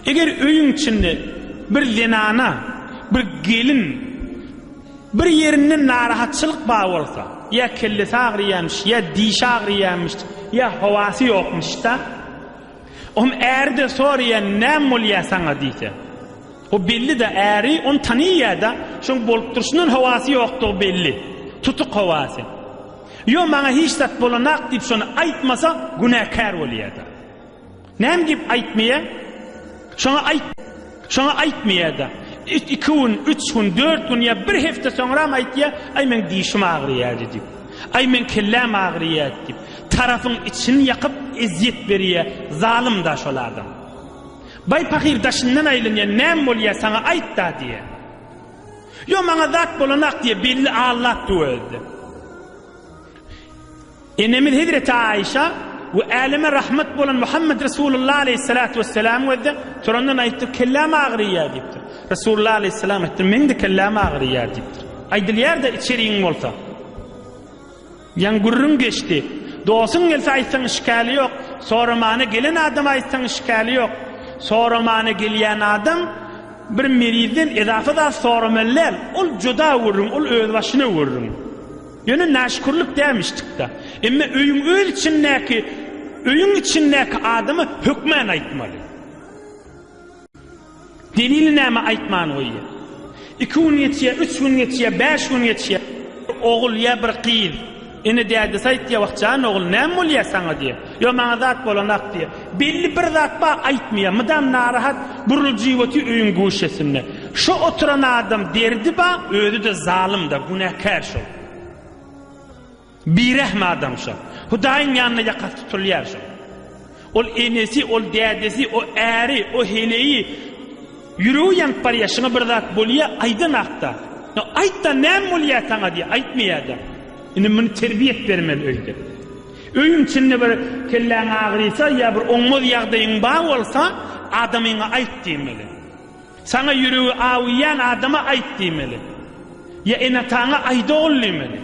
Eger öýüň içinde bir zenana, bir gelin bir ýerinde narahatçylyk bar bolsa, ýa kellesi agyrýarmyş, ýa dişi agyrýarmyş, ýa howasy ýokmyş-da, onuň äri-de soraýar, näme bolýar saňa diýse, o belli-de, äri ony tanaýar-da, şonuň bolup durşundan howasy ýokdugy belli, tutuk howasy. Ýok, maňa hiç zat bolanak diýip şony aýtmasa, günäkär bolýar-da. Näme diýip aýtmaýa? Şoňa aýt. Şoňa aýtmaýa-da. Iki gün, üç gün, dört gün ýa bir hepde soňram aýtýa, Aý, meň dişim agyrýady diýip. Aý, meň kelläm agyrýady diýip. Tarapyň içini ýakyp, ezýet berýä, zalym-da şol adam. Baý pahyr daşyndan aýlanýa, Näme bolýa, saňa aýt-da diýä. Ýok, maňa zat bolanak diýä, belli allapdy özi-de. Enemiz hezreti Aişa we äleme rahmet bolan Muhammed Resulullah aleýhissalatu wesselam gözde turandan aýtdy, kelläm agyrýar diýipdir. Resulullah aleýhissalam aýtdy, meň-de kelläm agyrýar diýipdir. Aýdylýar-da içeriň bolsa. Ýaň gürrüň geçdi. Dostuň gelse aýtsaň işgäli ýok, soramana gelen adama aýtsaň işgäli ýok. Soramana gelýän adam bir merizden edafa zat soramaly däl, ol juda gürrüň, ol özbaşyna gürrüň. Ýöne näşükürlik dämişdik-dä. Emma öýüň öz içindäki, öýüň içindäki adama hökmän aýtmaly. Delili näme aýtman goýýar. Iki gün geçýär, üç gün geçýär, bäş gün geçýär. Ogul ýa bir gyz ene-dädesi aýtýar, Wah jan ogul, näme bolýar saňa diýýär. Ýok maňa zat bolanok diýýär. Belli bir zat bar, aýtmaýar. Mydam narahat, buruljyp otyr öýüň guşesinde. Şo oturan adam derdi bar, özi-de zalym-da, günäkär şol. Birehm adam şo. Hudaýyň ýanynda ýakasy tutulýar şo. Ol enesi, ol dädesi, o äri, o heleýi. Ýüregi ýanyp barýar, şuňa bir zat bolýa, aýdan hakda. No, aýt-da, näme bolýa saňa diýýär, aýtmaýar-da. Indi muny terbiýe et bermeli öýde. Öýüň içinde bir kelläň agyrysa ýa bir oňmaz ýagdaýyň bar bolsa, adamyňa aýt diýmeli. Saňa ýüregi awuýan adama aýt diýmeli. Ýa ene-ataňa aýt ogul diýmeli.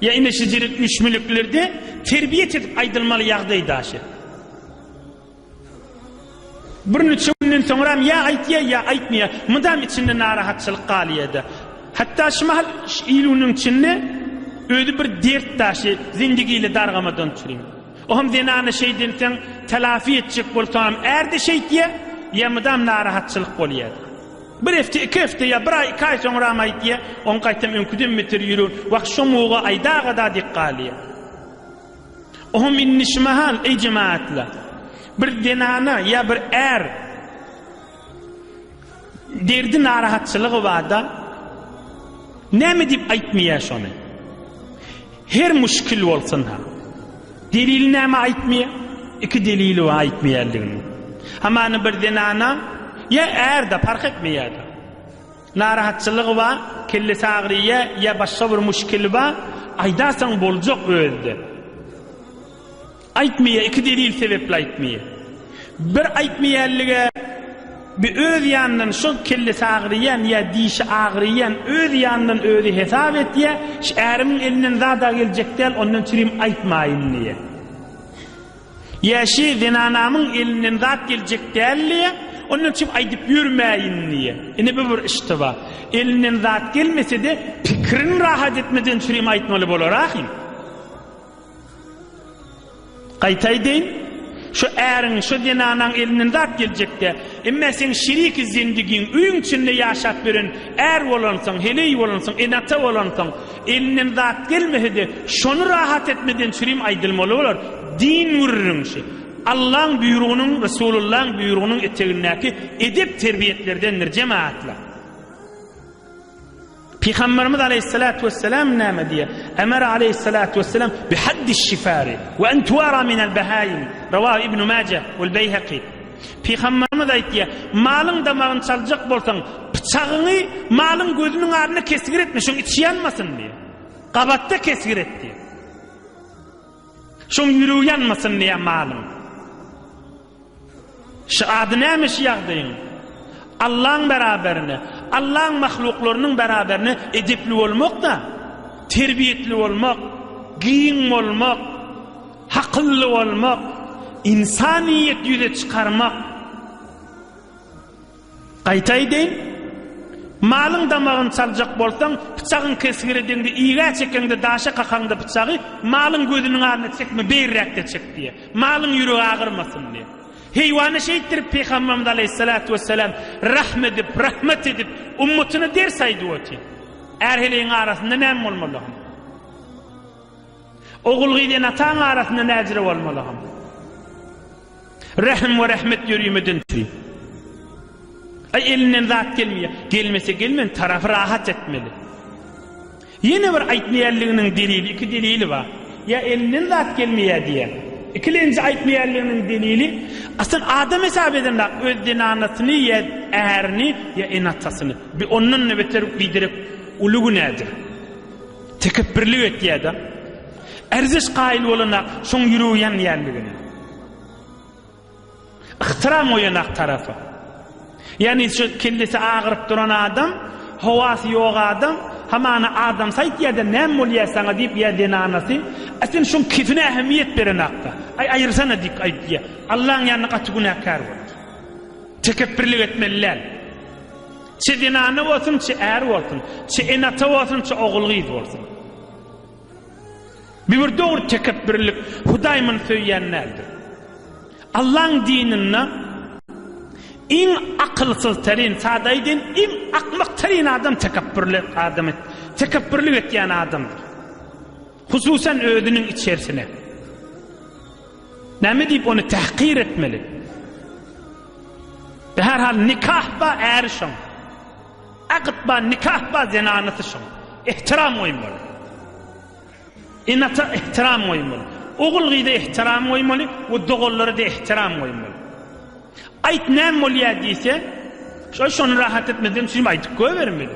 Ýa ine şejirik müşmüliklerde terbiýe çedip aýdylmaly ýagdaý daşy. Birnäçe günden soňram ýa aýtýa, ýa aýtmaýa, mydam içinde narahatçylyk galýa-da. Hatda şu mahal il-günüň içinde özi bir dert daşy, zindigi ile dargamadan turýa. Oňam zenana şeý diýensoň, telafi etjek bolsaňam är-de şeýtýä, ýa mydam narahatçylyk bolýa. Bir hepde, iki hepde ýa bir aý, iki aý soňram aýtýa, oň gaýtam öňküden beter ýüregi wah şo muga aýdagada diýip galýa. Oho minni şu mahal eý jemaatlar bir zenana ýa bir är derdi narahatçylygy barda näme diýip aýtmaýar şony her müşkil bolsun ha delil näme aýtmaýar iki delili bar aýtmaýarlygyny hamany bir zenana ýa ärde park etmeýär Narahatçylygy bar, kellesi agyrýa ýa başga bir muşkili bar, aýdasaň boljak özde. Aýtmaýa iki delil sebepli aýtmaýa. Bir aýtmaýanlige bir öz ýanyndan şo kellesi agyrýan ýa dişi agyrýan öz ýanyndan özi hesap etýä, şi ärimiň elinden zada geljek däl ondan çirim aýtmaýyn diýä. Ýaşy zenanamyň elinden zat geljek däldiýä, ondan üçin aýdyp ýörmäýin diýýä. Ine bu bir iştiba. Elinden zat gelmese-de, pikirin rahat etmeden çürim aýtmaly bolar ahim. Gaýtaýdyn, şu äriň, şu zenanaň elinden zat geljek-dä. Emmä seň şiriki zendigiň, öýüň içinde ýaşap ýören är bolansyň, heleý bolansyň, ene-ata bolansyň. Elinden zat gelmese-de, şony rahat etmeden sürim aýdylmaly bolar, Din gürrüňşi, Allaň buýrugynyň, Resulullaň buýrugynyň etegindäki edep-terbiýetlerdendir, jemagatlar. Pygamberimiz aleýhissalatu wessalam näme diýýär? Emara aleýhissalatu wessalam bi haddiş-şifari we en tuwara minel-bahaýim, Rawahu Ibnu Maja wal-Beýhaki. Pygamberimiz aýtýar, Malyň damagyny çaljak bolsaň, pyçagyňy malyň gözüniň aryna kesgir etme, şoň içi ýanmasyn diýýär. Gabatda kesgir et diýýär. Şoň ýüregi ýanmasyn diýýär malyň. Şu ady näme şu ýagdaýyň? Allaň beraberine, Allaň mahluklarynyň beraberine edepli bolmak-da, terbiýetli bolmak, giň bolmak, Hakylly bolmak, ynsanyýeti ýüze çykarmak. Gaýta aýdaýyn, malyň damagyny çaljak bolsaň, pyçagyň kesgiri deňde, igä çekeňde, daşa kakaňda pyçagy, malyň gözüniň aryna çekme, beýräkde çek diýýär. Malyň ýüregi agyrmasyn diýýär. Heýwana şeýtdirip pygamberimiz aleýhissalatu wessalam rahm edip, rahmat edip, ummatyna ders aýdyp otyr. Är heleýiň arasynda näme bolmaly? Ogul-gyz ene-ataň arasynda näzire bolmalygam. Rähm we rahmet ýörime dynçy. Aý elinden zat gelmeýär. Gelmese gelmen tarapy rahat etmeli. Ýene bir aýtmaýanliginiň delili iki delili bar. Ýa elinden zat gelmeýär diýýär. Ikilenji aýtmaýanliginiň delili asl adam hesap edendäk öz zenanasyny ýa ärini ýa ene-atasyny. Bu ondan-da beter biderek uly günädir. Tekepbirlik etýäda. Erziş kaýyl bolana şoň ýüregi ýanýanligine. Yhtyram goýanak tarapa. Ýani şu kellesi agyryp duran adam, howasy ýok adam, hamana adam saýt ýada näm bolýa saňa diýip ýa zenanasy, a sen şoň kefine ähemmiýet berenakda. Aý aýyrsana diýip aýtýa. Allaň ýanynda gaty günäkär bolar. Tekepbirlik etmeli däl. Çy zenana bolsun, çy är bolsun, çy ene-ata bolsun, çy ogul-gyz bolsun. Bu bir dogry tekepbürlik, Hudaý muny söýýän däldir. Allaň dininde iň akylsyzteryn, sada aýdaýyn, iň akmakteryn adam tekepbürli adam, tekepbürlik etýän adamdyr. Hususan özüniň içerisine. Näme diýip ony tahkir etmeli? Ve her hal nikah ba äri şoň. Akyt ba nikah ba zenanysy şoň. Ehtiram goýmaly. Enata ehtiram goýmaly. Ogul gyza ehtiram goýmaly we doganlara da ehtiram goýmaly. Aýt näme bolýar diýse, şo şony rahat etmeden şuny aýdyp goýbermeli.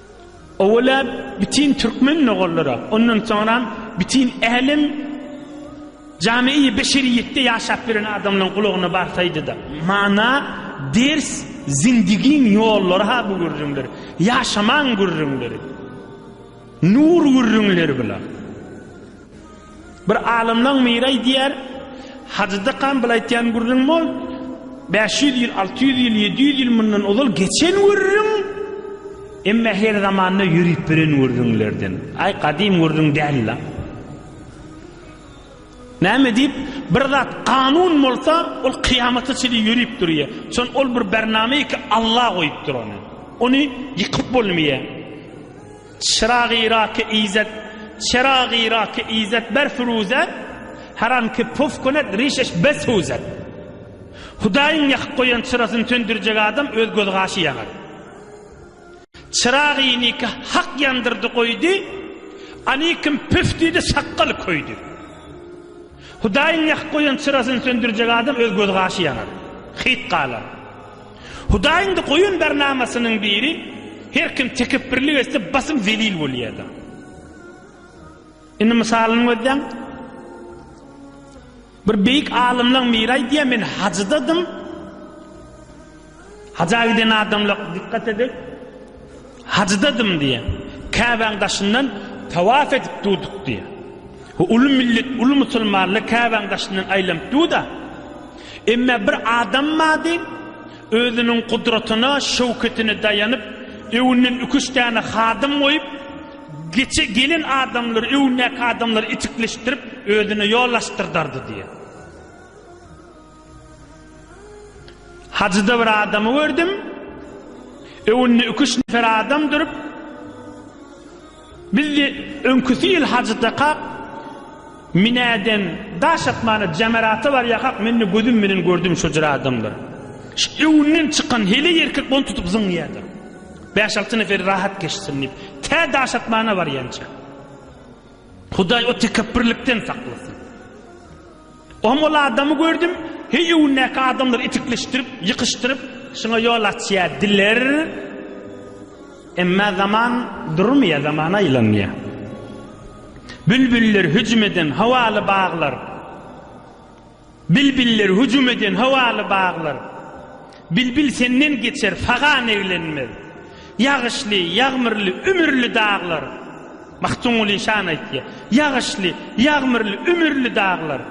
Owalä bütin türkmen nogallara, ondan soňram bütin älem jamiýi beşeriýetde ýaşap ýören adamlaryň gulagyna barsaýdyda. Mana, ders, zindigiň ýollary ha bu gürrüňler, ýaşamaň gürrüňleri. Nur gürrüňleri bular. Bir alymlaň biri aýdýar, Hajydakam bir aýtýan gürrüň bol, bäş ýüz ýyl, alty ýüz ýyl, ýedi ýüz ýyl mundan ozal geçen gürrüň, emma her zamanda ýörüp biren gürrüňlerden. Aý, gadym gürrüň däl-la. Näme diýip, bir zat kanun bolsa, ol kyýamata çenli ýörüp durýar. Şon ol bir bername ki, Alla goýupdyr ony. Ony ýykyp bolmaýar. Çyragyraky Izzet Çyragyraky Izzet ber firuze Haramki puf könek rişeş bes huzet Hudaýyň ýakyp goýan çyrasyny söndürjek adam öz göz gaşy ýanar Çyragy nikah hak ýandyrdy goýdy Anikim püf diýdi sakgaly köýdi Hudaýyň ýakyp goýan çyrasyny söndürjek adam öz göz gaşy ýanar Hyt galar. Hudaý indi goýan bernamasynyň biri her kim tekepbirlik etse basym zelil bolýada. Indi mysalyny gözleň. Bir beýik alymlaň miri aýdýa men hajydadym. Haja giden adamlar dikkat edip Hajydadym diýýär. Käbäň daşyndan tawaf edip durduk diýýär. Bu uly millet, uly musulmanlar Käbäň daşyndan aýlanyp dur-da, emme bir adam bardy, özüniň gudratyna, şöwketine daýanyp, öňünden iki-üç däne hadym goýup, geçe gelen adamlary, öňündäki adamlary itikleşdirip, özüne ýol açdyrdardy diýýär. Hajyda bir adamy gördüm. Öwünde ükiş nefer adam durup. Biz de öňküsi ýyl hajyda kak Minäden daş atmana jamerata bar ýakak mende gözüm menen gördüm şu jyr adamlar. Şu öwünden çykan heli erkek bonu tutup zyňýardyr. 5-6 neferi rahat geçsin diýip. Tä daş atmana bar ýança. Hudaý o tekepbirlikden saklasyn. Oňam ol adamy gördüm, heý öwündäki adamlar itikleşdirip, ýykyşdyryp, şuňa ýol açýar diler, emma zaman durmýar, zaman aýlanýar. Bülbüller hüjüm eden howaly baglar, Bilbiller hüjüm eden howaly baglar, Bilbil senden geçer sagan eglenmez. Ýagyşly, ýagmyrly, ümürli daglar. Magtymguly şany aýtýar. Ýagyşly, ýagmyrly, ümürli daglar.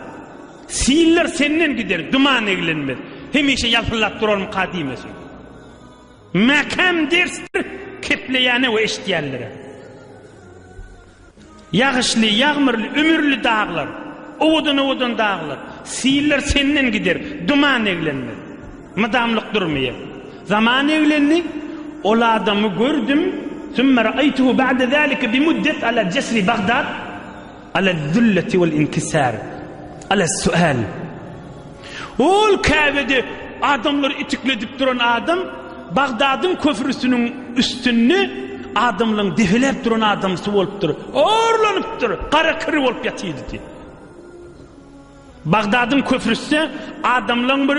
Sillar senden gider, duman eglenmez. Hemişe ýalpyldap durarmyka diýmesin. Mäkäm dersdir kepleýäne we eşitýänlere. Ýagyşly, ýagmyrly, ümürli daglar, Owadan-owadan daglar, Siller senden gider, duman eglenmez. Mydamlyk durmaýar. Zaman eglendi, Ol adamy gördüm, Summa ra'aýtuhu ba'de zalika bi muddat ala jesri Bagdad, Ala zülleti wal inkisar, Ala su'al. Ol Käbede adamlary itikledip duran adam Bagdadyň köprüsiniň üstünde adamlaryň depeläp duran adamsy bolupdyr. Orlanypdyr, gara kiri bolup ýatydy. Bagdadyň köprüsde adamlaryň bir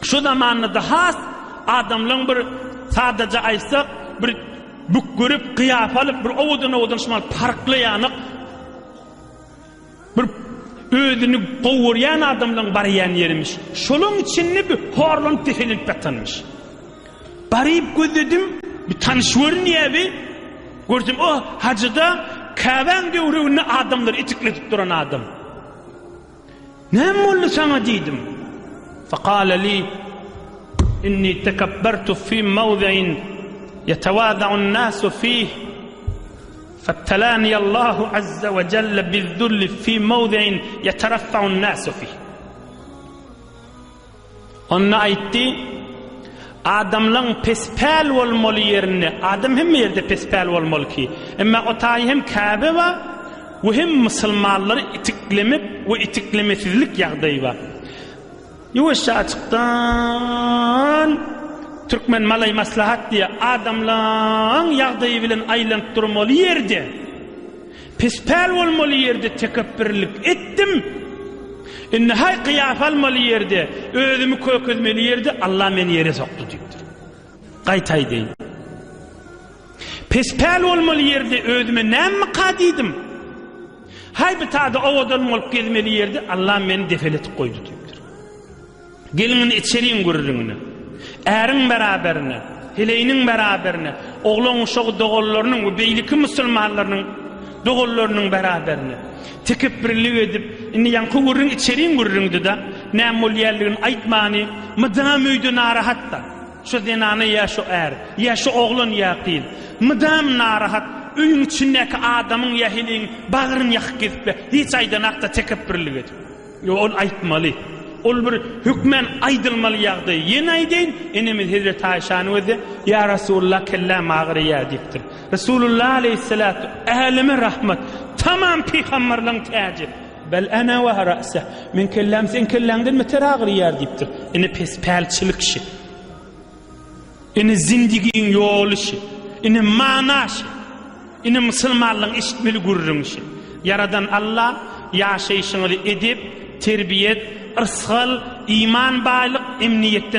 şu zamanda-da has adamlaryň bir sadaja aýtsak, bir bükgürip, gyýapalyp, bir owadan-owadan şumal parklaýanyk, Bir özüni gowy görýän adamlaň barýan ýerimiş. Şolaň içinde bir horlanyp-peselenip ýatanmyş. Baryp gözledim, bir tanyş görünýär bi. Görsem, o, Hajyda Käbäň döwreginde adamlary itikletip duran adam. Näme boldy saňa diýdim. Faqala li, Inni tekabbartu fi mawzi'in yetawaza'un nasu fih. Fabtalani Allahu azza we jelle bizzulli fi mawdi'in yataraffa'un nasu fihi. Onda aýtdy, Adamlaň pespäl bolmaly ýerinde, adam hemme ýerde pespäl bolmaly ki, emma o taýy hem Käbe we we hem musulmanlary itiklemek we itiklemesizlik ýagdaýy bar. Ýuwaşja açykdan Türkmen malaý maslahat diýä adamlaň ýagdaýy bilen aýlanyp durmaly ýerde pispäl bolmaly ýerde tekepbirlik etdim indi haý kyýafa almaly ýerde özümi kökezmeli ýerde Allah meni ýere sokdy diýipdir gaýta aýdaýyn pispäl bolmaly ýerde özüme näme ka diýdim Haý bitada owadan bolup gezmeli ýerde Allam meni defel etip goýdy diýipdir. Gelin indi içeriň gürrüňine. Äriň beraberine, heleýiniň beraberine, oglan uşagy doganlarynyň we beýleki musulmanlarynyň doganlarynyň beraberine. Tekepbirlik edip, indi ýaňky gürrüň içeriň gürrüňdi-de, näme bolýanlygyny aýtmany, mydam öýde narahat-da. Şu zenana ýa şu är, ýa şu oglan ýa gyz mydam narahat, öýüň içindäki adamyň ýa heleýiň bagryny ýakyp gezipler. Hiç aýdanakda tekepbirlik edip. Ýok, ol aýtmaly. Ol bir hökmän aýdylmaly ýagdaý. Ýene aýdaýyn, enemiz hezreti Aýşanyň özi, Ýa Resulullah kelläm agyraýýar diýipdir. Resulullah aleýhissalat, äleme rahmat, tamam pygamberligiň täji. Bel ana we ra'sa, meň kelläm seň kelläňden beter agyrýar diýipdir. Ine pes pälçilik şi. Ine zindigiň ýoly şi. Ine mana şi. Ine musulmanlygyň eşitmeli gürrüň şi. Ýaradan Alla ýaşaýşyňyzy edep, terbiýet, yrsgal, iman baýlyk, emniýetden